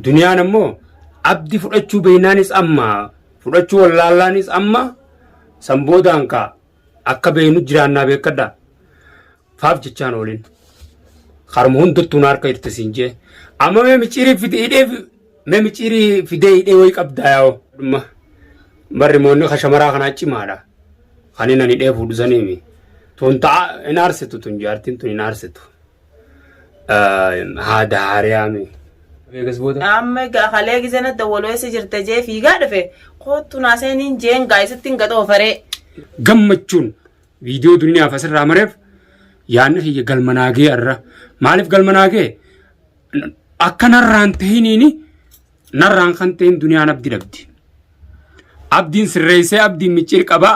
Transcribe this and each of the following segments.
Duniyaan ammoo abdi fudhachuu beeynaanis amma fudhachuu wallaallaanis amma san boodaan kaa akka beeynu jiraannaa beekadha. Faaf jechaan oolin. Karuma hundattuu na harka jirti siin jee. Amma mee miciirii fide hidhee fi- mee miciirii fidee hidhee wayii qabdaa yaa'u. Dhumma barri moonni ka shamaraa kanaa cimaadha. Kan inni ani hidhee fuudhu saniimi. Tun ta'a hin aarsitu tun jaartiin tun hin aarsitu. haada haariyaami. Amma egaa kalee gisee na dawwalu eessa jirta jee fiigaa dhufe koottu naa seeniin jeen gaa'isitti hin gadoo faree. Gammachuun viidiyoo duniyaaf asirraa mareef yaanni kiyya galma naagee irra maaliif galma naagee akka narraan tahiniini narraan kan tahin duniyaan abdi dhabdi. Abdiin sirreessee abdiin micciir qabaa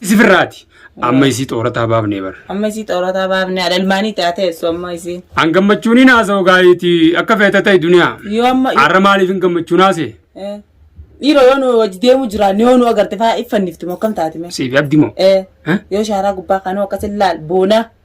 Isi firraati. Amma isii xoorataa baafnee bar. Amma isii xoorataa baafnee adalmaanii taatee eessu amma isii. An gammachuun hin haasa'u gaariiti akka feete ta'e duniyaa. Yoo amma Har'a maaliif hin gammachuun haase? Eh. dhiiroo yoo nu wajji deemu jiraan yoo nu agarte faa iffannifti moo akkam taati mee. Siif abdi moo? Eh. Eh? Yoo shaaraa gubbaa kanuu akkas hin laal boona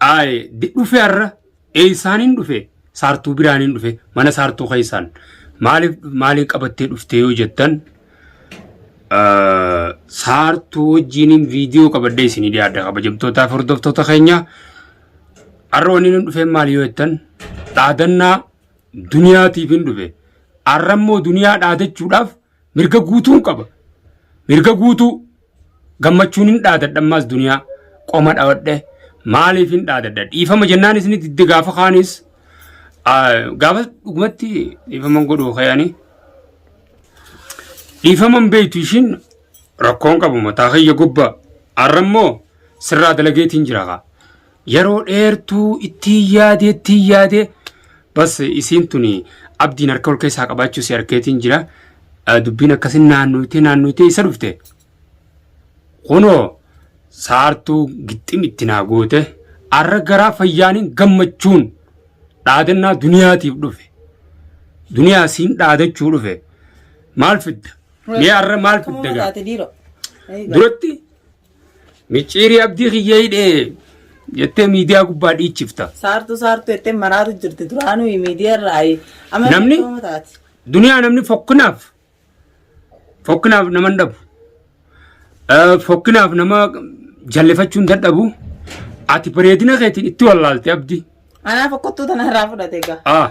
Aye di dhufe arra eysaanin dhufe saartuu biraanin dhufe mana saartuu keysaan maalif maaliin qabattee dhuftee yoo jettan ah, saartuu wajjiinin viidiyoo qabadhee isinii dhiyaadha kabajamtootaaf hordoftoota keenya arra wanni nun dhufeen maali yoo jettan dhaadannaa duniyaatiif hin dhufe arra immoo duniyaa dhaadachuudhaaf Mirga guutuun qaba. Mirga guutuu gammachuun hin dhaadadha ammaas duniyaa qoma dhawadhe maaliif hin dhaadadha dhiifama jennaan isin didde gaafa kaanis gaafa dhugumatti dhiifaman godhuu kayanii dhiifaman beektu ishiin rakkoon qabu mataa kiyya gubbaa har'a immoo sirraa dalageetiin jira kaa. Yeroo dheertuu ittiin yaadee ittiin yaadee bas isiin tuni abdiin harka ol keessaa qabaachuu si harkeetiin jira. Eh, Dubbiin akkasin naannoytee naannoytee isa dhufte. Kunoo saartuu gixxim itti naa goote arra garaa fayyaanin gammachuun dhaadannaa duniyaatiif dhufe. Duniyaa siin dhaadachuu dhufe. Maal fidda? Mee arra maal fidda gaa? Duratti Micciirii abdii kiyyee hidhee jettee miidiyaa gubbaa dhiichifta. Saartuu saartuu jettee maraatu jirti duraanuu miidiyaa irraa amma Namni? beekamoo taati. Duniyaa namni fokkinaaf fokkinaaf nama hin dhabu. Eh, Fokkinaaf nama jallifachuu hin dadhabu. Ati bareedina keetiin itti wallaalte abdi. Anaaf akkottuu tana irraa fudhate egaa. Ah.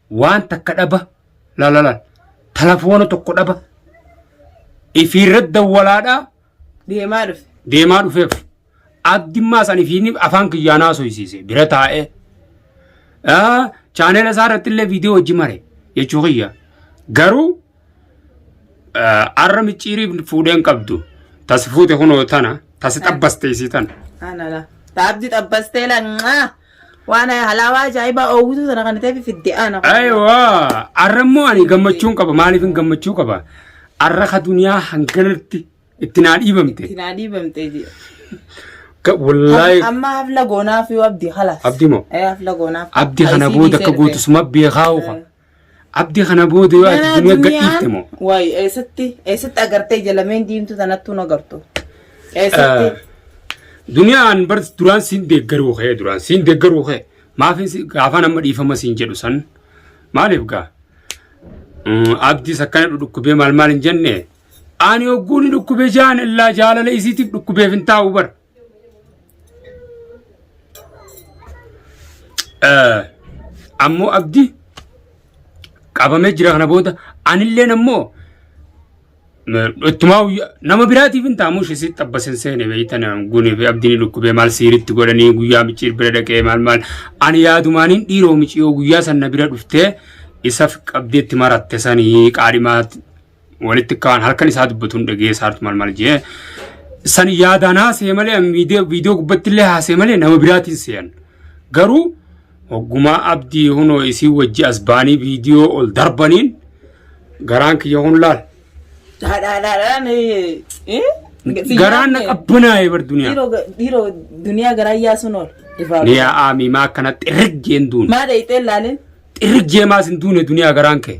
waan takka dhaba lalala telefoona tokko dhaba ifiirra dawwalaadha Deemaa dhufe. deemaa dhufeef abdimmaa san ifiin afaan kiyyaanaa haasofsiise bira taa'ee Ah, chaanela isaa irratti illee viidiyoo hojii mare jechuu kiyya garuu Arra micciirii fuudheen qabdu. Tas fuute kunoo tana. Tas xabbaste isii tana. Anala. Taabdi xabbastee langaa. Waan halaawaa ajaa'ibaa oowwituu sana kan ta'eef fidde ana. Aywa. Arra immoo ani gammachuun qaba. Maaliif hin gammachuu qaba? Arra ka duniyaa hanganatti itti naa dhiibamte. Itti naa dhiibamte jira. Wallaahi. Amma hafla goonaaf yoo abdi halas. Abdi moo? Hafla goonaaf. Abdi kana booda akka gootu suma beekaa uka. Abdi kana booda yoo ati Ganaa duniyaa duniyaan gadhiifte moo? waay eessatti eessatti agartee jalameen diimtuu tanattuu na gartu. Eessatti Duniyaan bar duraan siin deeggaruu kee duraan siin deeggaruu kee maafin si- gaafaan amma dhiifama siin jedhu san maaliif gaa? Mm, Abdiis akkana dhukkubee maal maal hin jenne ani hogguu ni dhukkubee jaan illaa jaalala isiitiif dhukkubeef hin taa'u bar. Ammoo abdi qabamee jira kana booda anilleen ammoo ittumaa nama biraatiif hin taamu ishee xabbasin seene beeytan guni fi abdiin dhukkubee maal siiritti godhanii guyyaa micciir bira dhaqee maal maal ani yaadumaaniin dhiiroo miciyoo guyyaa sanna bira dhuftee isaf qabdeetti maratte sanii qaadhimaa walitti kaan halkan isaa dubbatuun dhagee saartu mal mal jee san yaadaan haasee malee viidiyoo gubbatti illee haasee malee nama biraatiin seeyan garuu hoggumaa abdii hunoo isii wajji as baanii viidiyoo ol darbaniin garaan kiyya hun laal. Garaan na qabbanaa'ee bar duniyaa. Dhiiroo duniyaa garaa yaasuun ol. Ni yaa aamii maa akkana xirrig jeen duun. Maa dheeyxee laaleen. Xirrig jee maas hin duune duniyaa garaan kee.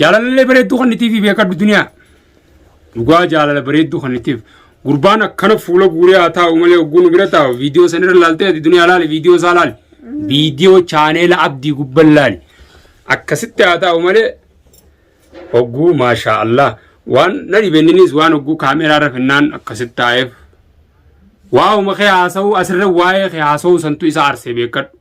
Jaalalallee bareedduu kan nitiif beekadhu duniyaa. Dhugaa jaalala bareedduu kan nitiif. Gurbaan akkana fuula guuree haa taa'u malee hogguu nu bira taa'u viidiyoo sanirra laaltee ati duniyaa laali viidiyoo isaa laali. Viidiyoo chaaneela abdii gubban laali. Akkasitti haa taa'u malee hogguu maashaa Allah. Waan na dhibenninis waan hogguu kaameeraa irra finnaan akkasitti taa'eef. Waa'uma kee haasa'uu asirra waa'ee kee haasa'uu santu isa aarsee beekadhu.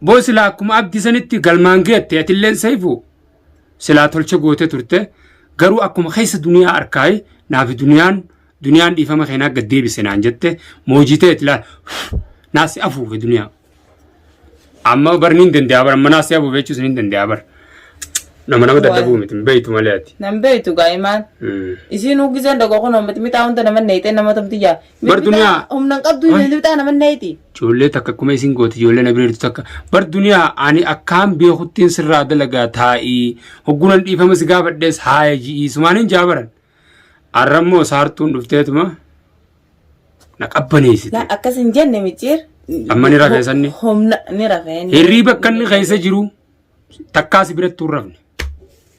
Boo silaa akkuma abdi sanitti galmaan geette atilleen saifu silaa tolcha goote turte garuu akkuma keessa duniyaa arkaayi naafi duniyaan duniyaan dhiifama keenaa gad deebise naan jette moojitee itilaa naasi afuufe duniyaa. Amma barni hin danda'a bar amma naasi afuufe jechuus hin danda'a bar. Nama nama dadhabuu miti hin beektu malee ati. Nan beektu gaa'imaan. Isiin huggiseen dhagoo kun mixmixaa hunda nama neexee nama tumtiyyaa Bar duniyaa. Humna hin qabdu Waay. lixaa nama neeti. Ijoollee takka akkuma isin gooti ijoollee na bira jirtu takka. Bar duniyaa ani akkaan beekuttiin sirraa dalagaa taa'ii. Hoggunan dhiifama si gaafadhees haaya ji'ii sumaanin jaabaran. Arrammoo saartuun dhufteetuma na qabbaneessite. Laa akkas hin jenne micciir. Amma ni rafee sanni? Humna ni rafee. Hirrii bakka inni keessa jiru takkaa si biratti hin rafne.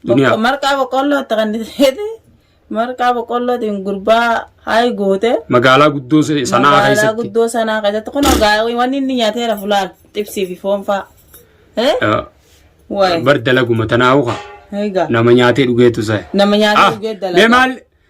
Duniyaa. Marqaa boqqolloo itti qanniseeti. Marqaa boqqollootiin gurbaa hayi goote. Magaalaa guddoo se- sanaa Magaalaa keessatti. guddoo sanaa keessatti kun ogaa wanni inni nyaateera fulaan xibsii fi foon fa'a. Eh? Ah, Wayi. Bar dalaguma tanaa hoka. Egaa. Nama nyaatee dhugeetu sa'a. Nama nyaatee Ah, dhugee mee dalagaa. maal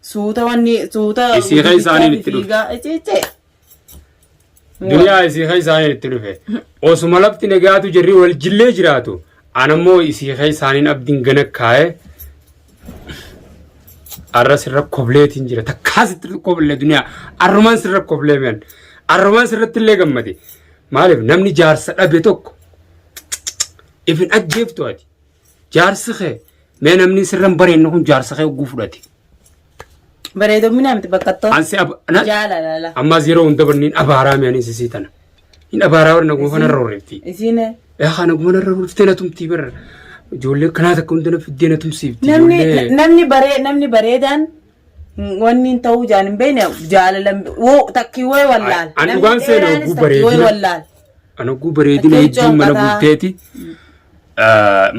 Suuta wanni suuta Isii kan isaaniin itti dhufe. fiigaa iciicee. Duniyaa isii kan isaaniin itti dhufe. Osuma lafti nagaatu jirri wal jillee jiraatu. Anammoo isii kan isaaniin abdiin gana kaa'ee arra sirra kobleetiin jira. Takkaa sitti koblee duniyaa. Arrumaan sirra koblee mi'an. Arrumaan sirratti illee gammade. Maaliif namni jaarsa dhabe tokko ifin ajjeeftu ati. Jaarsi kee mee namni sirra hin bareenye kun jaarsa kee hogguu fudhate. Bareedoomina miti baqqattoo. Ansi ab- na- Jaalalala. ammaas yeroo hunda barniin abaaraa mi'anii sisii tana. Hin abaaraa warra naguma kana irra horreefti. Isiin Yaa kana naguma irra horreeftee na tumtii barra. Ijoollee kanaa takka hunda na fiddee na tumsiifti. namni Ijoollee- namni baree namni bareedaan Wanni hin ta'uu jaan hin beekne jaalala woo takkii woo wallaal. An dhugaan seena oguu bareedina. An oguu bareedina hedduun mana bulteeti.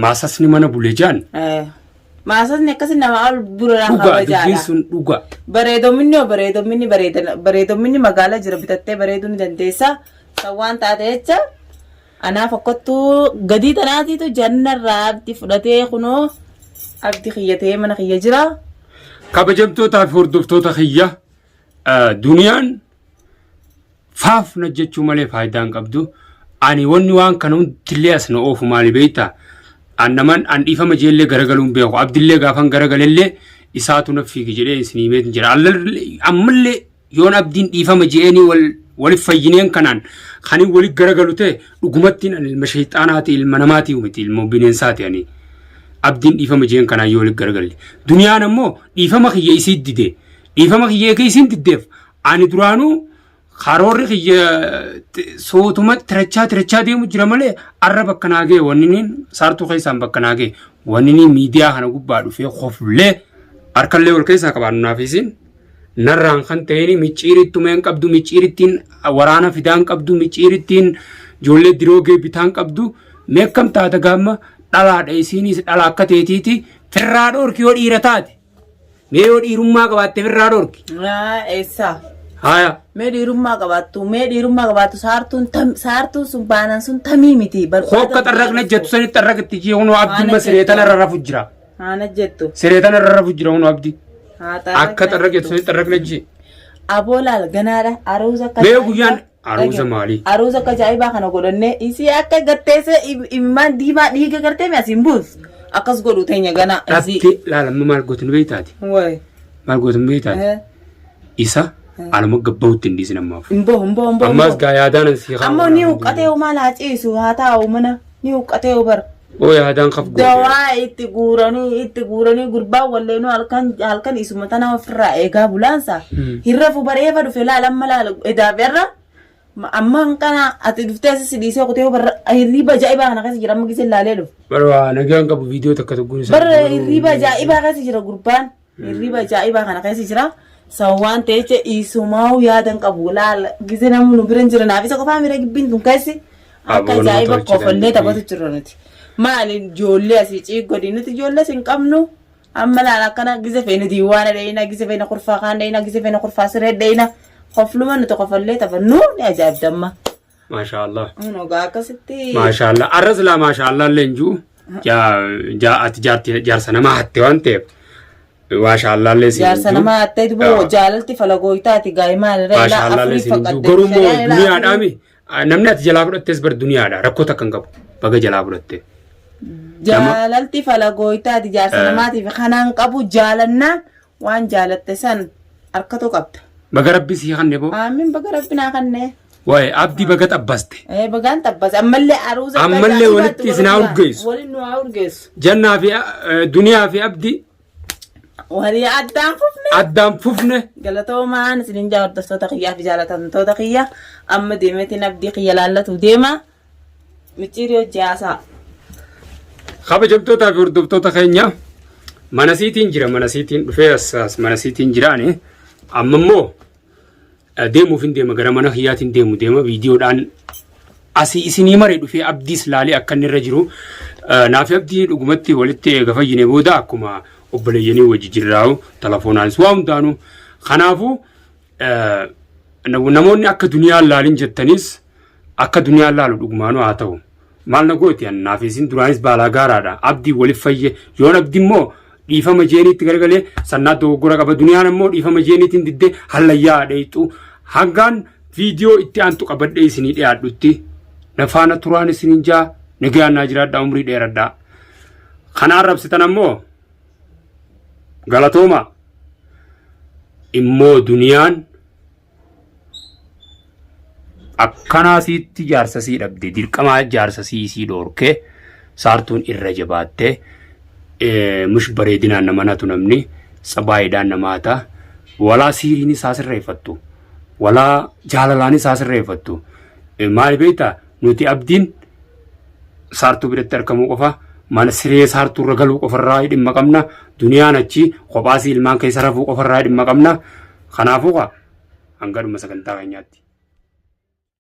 Maasasni mana bule jaan. Maasasni akkasi nama ol burraa kabajaadha. Dhugaa dubbiin sun dhugaa. Bareedominni yoo bareedominni bareedominni magaalaa jira bitattee bareeduu ni dandeessa. Kan waan taate jecha. Anaa fakkattuu gadii tanaatiitu janna irraa abdi fudhatee kunoo abdi kiyya ta'ee mana kiyya jira. Kabajamtootaa fi hordoftoota kiyya duniyaan faaf na jechuu malee faayidaa hin qabdu. Ani wanni waan kana hundillee as na oofu maali beektaa? An naman an dhiifama jeellee garagaluun beeku. Abdillee gaafan garagalellee isaatu na fiigi jedhee isin himeetiin jira. Ammallee yoon abdiin dhiifama je'eenii wal walif fayyineen kanaan kanin walit garagalu ta'e dhugumattiin ani ilma shayxaanaati ilma namaati miti ilmoo bineensaati ani abdiin dhiifama je'een kanaan yoo walit garagalle duniyaan ammoo dhiifama kiyya isii dide dhiifama kiyya eega isiin diddeef ani duraanuu karoorri kiyya t- sootuma tirachaa tirachaa deemu jira malee arra bakka naa ga'e wanniniin saartuu keessaan bakka naa ga'e wanniniin miidiyaa kana gubbaa dhufee koflee harkallee wal keessaa qabaannu naaf isiin narraan kan ta'een micciirittu meen qabdu micciirittiin waraana fidaan qabdu micciirittiin ijoollee diroogee bitaan qabdu meekkam taata gaamma dhalaadha isiinis dhala akka teetiiti firraa dhorki yoo dhiira taate mee yoo dhiirummaa qabaatte firraa dhorki Yaa eessaa. haya Mee dhiirummaa qabaattu mee dhiirummaa qabaattu saartuun tam- saartuun sun baanan sun tamii miti. barbaada- hokka xarraqna jettu sani xarraqatti jee hunoo abdumma siree tanarra rafu jira Haana jettu. Siree tana irra rafu jira hunu abdi. Akka xarra jettu sanii xarra kina jee. Aboo laal ganaadha. Aruuza akka Mee guyyaan aruuza maali? Aruuza akka ajaa'ibaa kana godhannee isii akka gatteessee imimmaan diimaa dhiiga gartee mi asiin buus. Akkas godhu teenya ganaa. Dhabte laalamma maal gootu nu beektaati. Wayi. Maal gootu nu beektaati. Isa alama gabbawutti hin dhiisin ammaaf. Imboo imboo imboo. Ammaas gaa yaadaanan sii haa. Ammoo ni huqqatee umaa laa ciisu haa taa'u mana ni huqqatee ubar. Ooy haadaan kaf goote. Dawaa itti guuranii itti guuranii gurbaan walleenuu halkan halkan isuma tana ofirraa eegaa bulaansa. Hmm. Hirra fubareefa dhufe laala amma laala edaa berra. Amma hanqana ati dhuftee asisi dhiisee kutee barra hirriiba ajaa'ibaa kana keessa jira amma gisee laalee dhufe. Bara waa nagaan qabu viidiyoo takka tokkoon isaa. Barra hirriiba ajaa'ibaa keessa jira gurbaan. Hirriba ajaa'ibaa kana keessa jira. San waan ta'e jecha isumaa'u yaadan qabu. Laal gizee namni nu bira hin jira naaf isa qofaa miira gibbiin tun keessi. Akka Aboo nama ajaa'iba tolchi kofallee danda'e. taphatu jirra nuti. Maali ijoollee asii ciig godhi nuti ijoollee sin qabnu. Amma laal akkana gizee feene diiwaana dheeyina gizee feene kurfaa kaan dheeyina gizee feene kurfaa siree dheeyina. Kofluma nuti kofallee taphannu ni ajaa'ibdamma. Maashaallah. Kunoo gaa akkasitti Maashaallah. Arra silaa maashaallah illee hin jiru. Jaa- jaa- Ati jaarti- jaarsa namaa hatte waan ta'eef. Maashaallah illee si hin jaarsa jiru. namaa attee Yaa. boo jaalalti falagooytaati gaa'imaan irra ilaa Maashaallah illee afurii si hin jiru. fakkadde Garuu immoo shari'aa ilaa duniyaadhaa afurii. mi? Namni ati jalaa fudhattes bar duniyaadha. Rakkoo takka hin qabu. Baga jalaa fudhatte. jaalalti falagooytaati jaarsa Eh. namaatiif kanaan qabu jaalannaan Waan jaalatte san harkatu qabda. Baga rabbi sii kanne boo. Aamin baga rabbi naa kanne. Waa'ee abdi baga xabbaste. Ee bagaan xabbase ammallee aruuza. Ammallee walitti isin haa urgeessu. Waliin nu haa urgeessu. Jannaa fi duniyaa fi abdi. Walii addaan fufne. Addaan fufne. Galatoomaan isinin jaa hordoftoota kiyyaa fi jaalatamtoota kiyya amma deemeetiin abdii kiyya laallatu deema. Micciirii hojii haasaa. Kabajamtootaa fi hordoftoota keenya mana siitiin jira mana siitiin dhufee as as mana siitiin jiraani amma immoo eh, deemuuf hin deema gara mana kiyyaatiin deemu deema viidiyoodhaan asii isinii maree dhufee abdiis laalee akka inni irra jiru eh, naaf abdii dhugumatti walitti eega fayyine booda akkuma obboleeyyanii wajji jirraa'u telefoonaanis waa hundaanu kanaafuu eh, nam- namoonni akka duniyaan laalin jettanis Akka duniyaan laalu dhugumaanuu haa ta'u. Maal na gooti an naaf isin duraanis baalaa gaaraadha. Abdiin walif fayye. Yoon abdi immoo dhiifama jeeniitti garagalee sannaa dogoggora qaba. Duniyaan ammoo dhiifama jeeniitiin diddee hallayyaa haa dheeyxu. Hangaan viidiyoo itti aantu qabadhee isinii dhiyaadhutti na faana turaan isinin jaa nagayaan naa jiraadhaa umrii dheeradhaa. Kana arrabsitan ammoo galatooma immoo duniyaan Akkanaa siitti jaarsa sii dhabde dirqamaa jaarsa sii sii dhoorke saartuun irra jabaatte mush bareedinaan nama natu namni sabaayiidhaan nama hata walaa siiriin isaa sirreeffattu walaa jaalalaan isaa sirreeffattu maal beektaa nuti abdiin saartuu biratti argamuu qofa mana siree saartuu irra galuu qofarraa dhimma qabna duniyaan achi kophaasii ilmaan keessa rafuu qofarraa dhimma qabna kanaafuu kaa hangadhuma sagantaa keenyaatti.